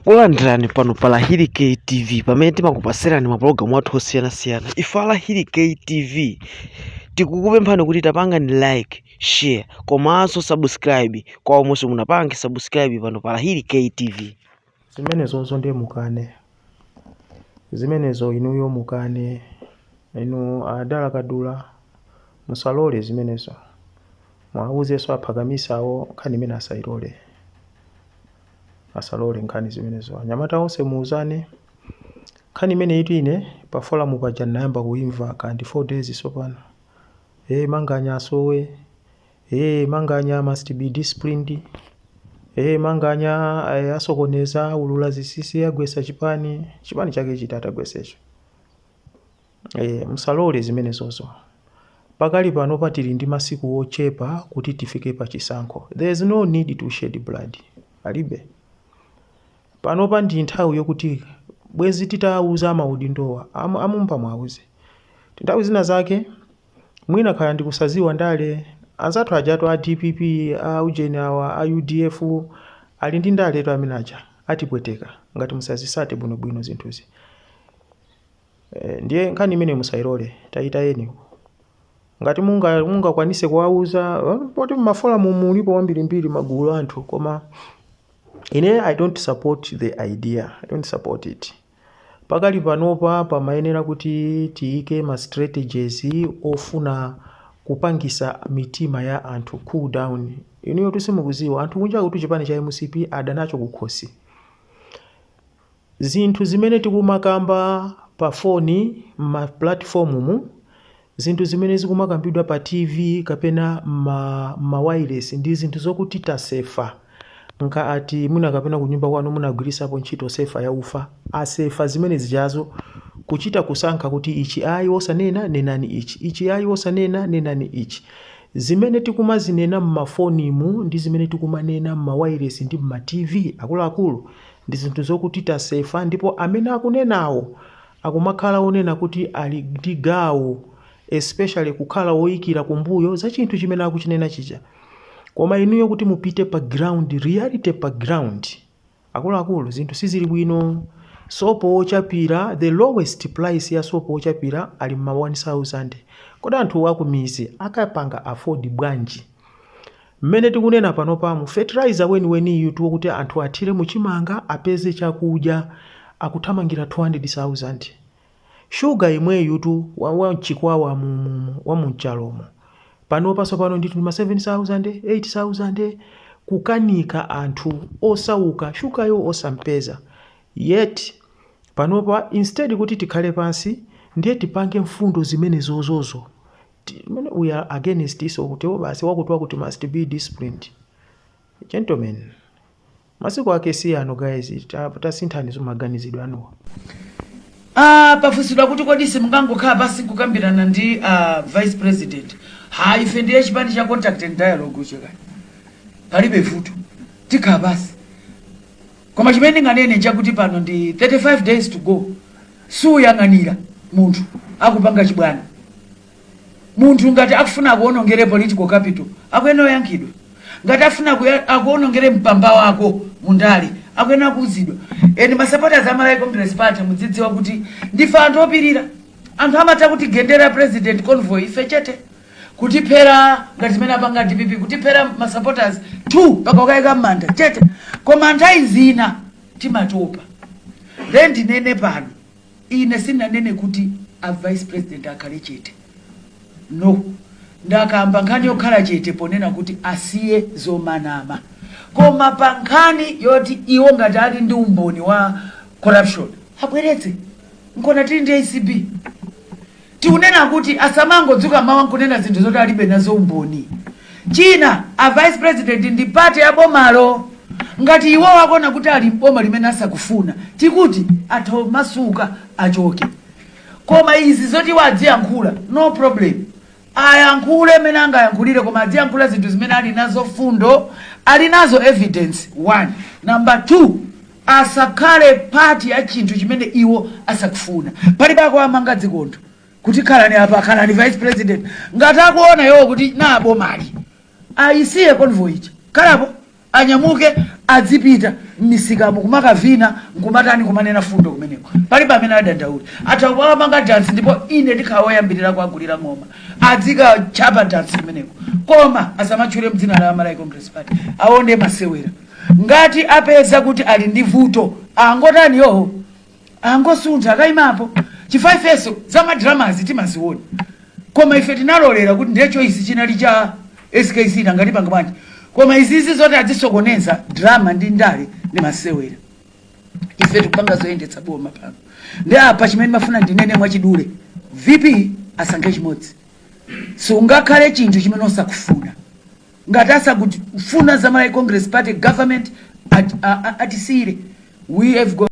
Takulandirani pano pa Lahiri K TV pamene timakupatsirani mapulogalamu athu osiyanasiyana. Ife a Lahiri K TV tikukupemphani kuti tapangani like, share komanso subscribe kwa omwe musanapange subscribe pano pa Lahiri K TV. zimenezozo ndiye mukane zimenezo inuyo mukane inu adala kadula musalole zimenezo muwauzenso aphakamisawo nkhani imeneyi asayilole asalole nkhani zimenezo. Anyamata onse muuzane. Nkhani imeneyitu ine pa forum paja ndinayamba kuimva ka ndi 4 days tsopano. Eh Manganya asowe. Eh Manganya must be disciplined. Eh Manganya eh, asokoneza aulula zinsinsi agwesa chipani. Chipani chake chiti atagwesecho. Eee musalole zimenezozo. Pakali panopa tili ndi masiku ochepa kuti tifike pa chisankho. There is no need to shed blood. Palibe. Panopa ndi nthawi yokuti bwezi titawauza amaudindowa, a mumba muwauze. Nthawi zina zake mwina kaya ndi kusadziwa ndale, anzathu ajatu a dpp, a ujeni awa, a udf ali ndi ndaletu amene aja. Atipweteka ngati simuzitsata bwinobwino zinthuzi. Eh, ndiye nkhani imeneyo musayilole tayitayeni ngati munga- mungakwanitse kuwauza eh, poti mmaforamu mulipo wambirimbiri magulu anthu koma ine i don't support the idea i don't support it pakali panopa pamayenera kuti tiyike ma strategies ofuna kupangitsa mitima ya anthu cool down inuyotu simukudziwa anthu kunja kuti chipani cha mcp adana nacho kukhosi Zinthu zimene tikumakamba pa foni, mma pulatifomumu, zinthu zimene zikumakambidwa pa TV kapena mma mmawailesi ndi zinthu zokuti tasefa nkhani yoti mwina kapena kunyumba kwanu munagwiritsapo ntchito sefa ya ufa, asefa zimene zijazo kuchita kusankha kuti ichi ayi osanena, nenani ichi, ichi ayi osanena, nenani ichi. Zimene tikumazinena mmafonimu ndi zimene tikumanena mmawailesi ndi mma TV akuluakulu Ndi zinthu zokuti tasefa ndipo amene akunenawo akumakhala onena kuti ali ndi gawo especially kukhala oyikira kumbuyo za chinthu chimene akuchinena chija. Koma inuyo kuti mupite pa ground, reality pa ground, akuluakulu zinthu sizili bwino. Sopo wochapira, the lowest price ya sopo wochapira ali mma 1000. Kodi anthuwo akumidzi akupanga afford bwanji? Mmene tikunena panopamu, fertilizer weniweniyutu wokuti anthu athire mu chimanga apeze chakudya akuthamangira 200,000. Shuga yemweyutu wa, wa m'Chikwawa mu, mu, mu, wa mu Nchalomo. Panopa tsopano ndithu ndi ma 7,000, 8,000. Kukanika anthu osauka shugayo osampeza. Yet, panopa instead kuti tikhale pansi ndiye tipange mfundo zimene zozozo Timene we are against izo kuti o basi wakuti wakuti must be disciplined. Gentlemen masiku ake si ano guys ta, tasinthaninso maganizidwe anuwa. Ah, pafunsidwa kuti kodi simungangokhala pansi kukambirana ndi ah, vice president ha ife ndiye chipani cha contact and dialogue choncho palibe vuto tikhala pansi koma chimene ndinganene nchakuti pano ndi 35 days to go suyang'anira munthu akupanga chibwana. Munthu ngati akufuna akuonongere political capital akuyenera kuyankhidwa. Ngati afuna kuya- akuonongere mpamba wako mu ndale akuyenera kuuzidwa. And ma supporters a Malawi Congress Party mudzidziwa kuti ndife anthu opirira. Anthu amatha kutigendera president convoy ife chete kutiphera ngati zimene apanga dpp kutiphera ma supporters 2 mpaka kukayika m'manda chete koma nthawi zina timatopa nde ndinene pano ine sinanene kuti a vice president akhale chete no ndakamba nkhani yokhala chete ponena kuti asiye zomanama koma pa nkhani yoti iwo ngati ali ndi umboni wa corruption abweretse nkona tili ndi acb Tikunena kuti asamangodzuka mmawa nkunena zinthu zoti alibe nazo umboni. China a vice president ndi part ya bomalo. Ngati iwowo akuona kuti ali m'boma limene asakufuna, tikuti atha kumasuka achoke. Koma izi zoti iwo adziyankhula, no problem. Ayankhule mmene angayankhulire koma adziyankhula zinthu zimene ali nazo fundo, ali nazo evidence one. Number two. asakhale part ya chinthu chimene iwo asakufuna palibe akuwamanga zingwe kuti khalani apa khalani vice president ngati akuona iwo kuti nalo bomali ayisiye convoy ija khalapo anyamuke adzipita m'misikamo kumakavina nkumatani kumanena fundo kumeneko palibe amene adandaule atha kumenya dansi ndipo ine ndikhala woyambirira kuagulira ng'oma adzikachapa dansi kumeneko koma asamatchule dzina la malawi congress party sayenda masewera Ngati apeza kuti ali ndi vuto angotani yoh angosuntha akaimapo chifukwa ifenso za ma dramazi timaziona koma ife tinalolera kuti ndiye choice chinali cha skc nanga tipanga bwanji koma izizi zoti adzisokoneza drama ndi ndale ndi masewera ife tikupanga zoyendetsa boma pano ndi apa chimene ndimafuna ndinene mwachidule vp asankhe chimodzi sungakhale chinthu chimene usakufuna Ngati asakut funa za Malawi Congress Party Government at, a, a, atisiyire we have got